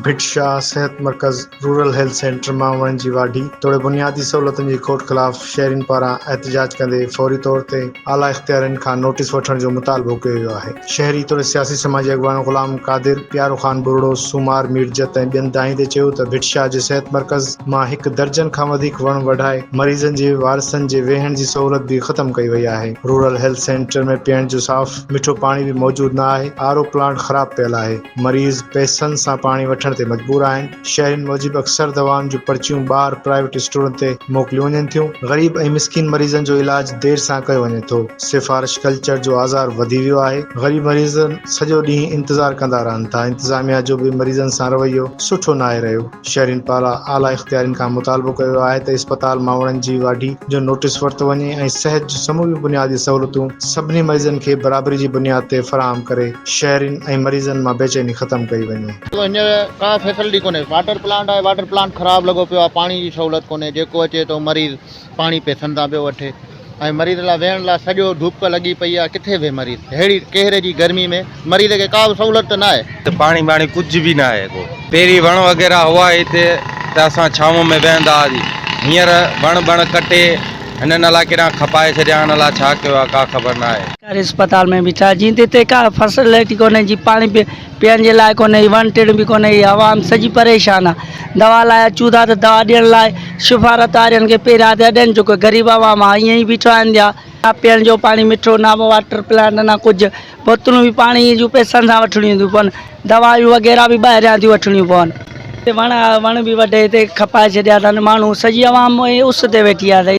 ڀٽ شاهه صحت مرڪز rural health centre مان وڻ جي واڍي توڙي بنيادي سهولتن جي کوٽ خلاف شهرين پاران احتجاج ڪندي فوري طور تي اعليٰ اختيارين کان نوٽيس وٺڻ جو مطالبو ڪيو ويو آهي شهري توڙي سياسي سماجي اڳواڻ غلام قادر پيارو خان ٻرڙو سومار ميرجت ۽ ٻين دانهين تي چيو ته ڀٽ شاهه جي صحت مرڪز مان هڪ درجن کان وڌيڪ وڻ وڍائي مريضن جي وارثن جي ويهڻ جي سهولت به ختم ڪئي وئي آهي، رورل هيلٿ سينٽر ۾ پيئڻ جو صاف مٺو پاڻي به موجود نه آهي، آر او پلانٽ خراب پيل آهي، مريض پئسن سان پاڻي وٺڻ تي مجبور آهن، شهرين موجب اڪثر دوائن جون پرچيون ٻاهر پرائيويٽ اسٽورن تي موڪليون وڃن ٿيون، غريب ۽ مسڪين مريضن جو علاج دير سان ڪيو وڃي ٿو، سفارش ڪلچر جو آزار وڌي ويو آهي، غريب مريض سڄو ڏينهن انتظار ڪندا رهن ٿا، انتظاميا جو به مريضن سان رويو سٺو ناهي رهيو. شهرين پاران اعليٰ اختيارين کان مطالبو ڪيو ويو آهي ته اسپتال مان وڻن جي واڍي جو نوٽيس ورتو وڃي ۽ صحت جون سموريون بنيادي سهولتون سڀني مريضن کي برابري جي بنياد تي فراهم ڪري شهرين ۽ مريضن مان بيچيني ختم ڪئي وڃي. هينئر ڪا فيسلٽي ڪونهي واٽر پلانٽ آهي واٽر پلانٽ خراب لڳو پيو آهي پاڻي جي سهولت ڪونهي جيڪو اچي ٿو مريض پاڻي پيسن تان پيو وٺي ۽ مريض لا ويهڻ لا سڄو ڌپ لڳي پئي آ ڪٿي ويهي مريض ههڙي قهر جي گرمي ۾ مريض کي ڪا به سهولت ته ناهي. پاڻي ٻاڻي ڪجهه به ناهي ڪو. پهرين وڻ وغيره هئا هتي ته اسان ڇانو ۾ ويهندا هئاسي هينئر وڻ بڻ ڪٽي هنن الا ڪيڏانهن کپائي ڇڏيا آهن الا ڇا ڪيو آ ڪا خبر ناهي. سرڪاري اسپتال ۾ بيٺا جيئن تي هتي ڪا فسلٽي ڪونهي جي پاڻي پي. پيئڻ جي لاء ڪونهي، هي وڻ ٽڻ به ڪونهي، هي عوام سڄي پريشان آ. دوا لاء اچون ٿا ته دوا ڏيڻ لاء سفارت وارين کي پيريان ٿيا ڏين جو ڪو غريب عوام آ ائين ئي بيٺو آهن ٿيا. نه پيئڻ جو پاڻي مٺو، نه واٽر پلانٽ، نه ڪجهه. بوتلون به پاڻي جون پئسن سان وٺڻيون ٿيون پون. دوائون وغيره به ٻاهريان ٿيون وٺڻيون پون. هتي وڻ آ، وڻ به وڍي هتي کپائي ڇڏيا اٿن ماڻهو، سڄي عوام اس تي ويٺي آ.